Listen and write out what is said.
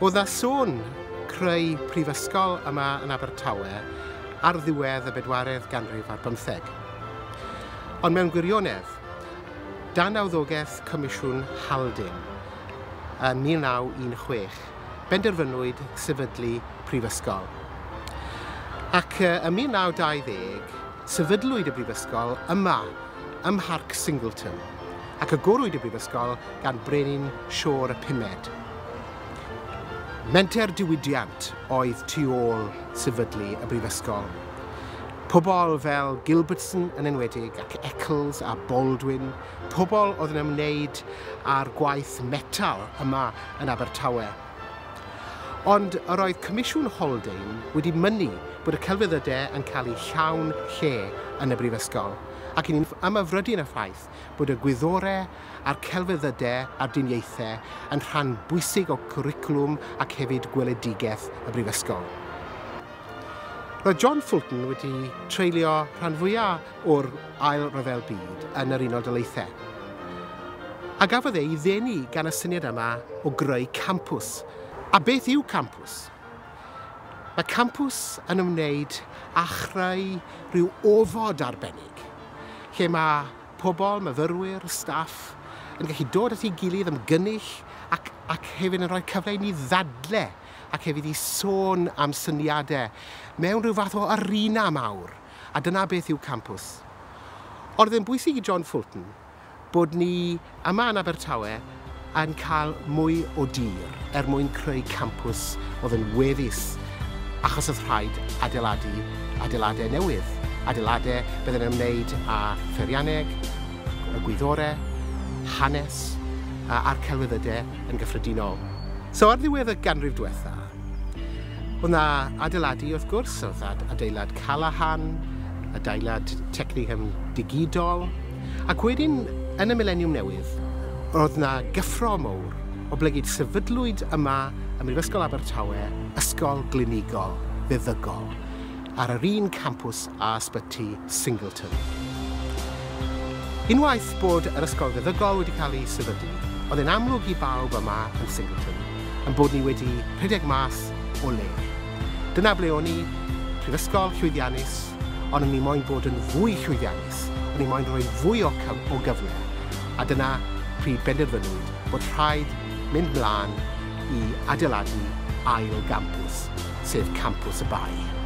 O dda sôn creu prifysgol yma yn Abertawe ar ddiwedd y bedwaredd ganrif ar bymtheg. Ond mewn gwirionedd, dan awddogaeth Comisiwn Haldin yn 1916, benderfynwyd sefydlu prifysgol. Ac ym 1920, sefydlwyd y brifysgol yma, ym Mharc Singleton, ac agorwyd y brifysgol gan Brenin Siôr y Pumed. Menter diwydiant oedd tu ôl sefydlu y brifysgol. Pobl fel Gilbertson yn enwedig, ac Eccles a Baldwin, pobl oedd yn ymwneud â'r gwaith metal yma yn Abertawe. Ond yr oedd Comisiwn Haldane wedi mynnu bod y celfyddydau yn cael eu llawn lle yn y Brifysgol, ac yn ymhyfrydu'n y ffaith bod y gwyddorau a'r celfyddydau a'r diniaethau yn rhan bwysig o gwricwlwm ac hefyd gweledigaeth y Brifysgol. Roedd John Fulton wedi treulio rhan fwyaf o'r Ail Ryfel Byd yn yr Unol Daleithiau. A gafodd ei ddenu gan y syniad yma o greu campws. A beth yw campws? Mae campws yn ymwneud â chreu rhyw ofod arbennig lle mae pobl, myfyrwyr, staff yn gallu dod at ei gilydd, ymgynnull ac, ac hefyd yn rhoi cyfle i ni ddadle ac hefyd i sôn am syniadau mewn rhyw fath o arena mawr. a dyna beth yw campws. O'dd e'n bwysig i John Fulton bod ni yma yn Abertawe yn cael mwy o dir er mwyn creu campws o'dd yn weddus achos o'dd rhaid adeiladu adeiladau newydd, adeiladau bydde'n ymwneud â pheirianneg, y gwyddore, hanes a'r celfyddydau yn gyffredinol. So ar ddiwedd y ganrif dwetha, Oedd 'na adeiladu wrth gwrs, oedd ad- adeilad Callaghan, adeilad Technium digidol, ac wedyn yn y mileniwm newydd, oedd 'na gyffro mowr, oblegid sefydlwyd yma ym Mhrifysgol Abertawe ysgol glinigol feddygol. ar yr un campws â Ysbyty Singleton. Unwaith bod yr ysgol feddygol wedi cael ei sefydlu, oedd e'n amlwg i bawb yma yn Singleton ein bod ni wedi rhedeg mas o le. Dyna ble o'n i, prifysgol llwyddiannus, ond o'n i moyn bod yn fwy llwyddiannus, o'n i moyn rhoi fwy o, o gyfle, a dyna pryd benderfynwyd bod rhaid mynd mlaen i adeiladu ail gampws. sef Campws y Bae.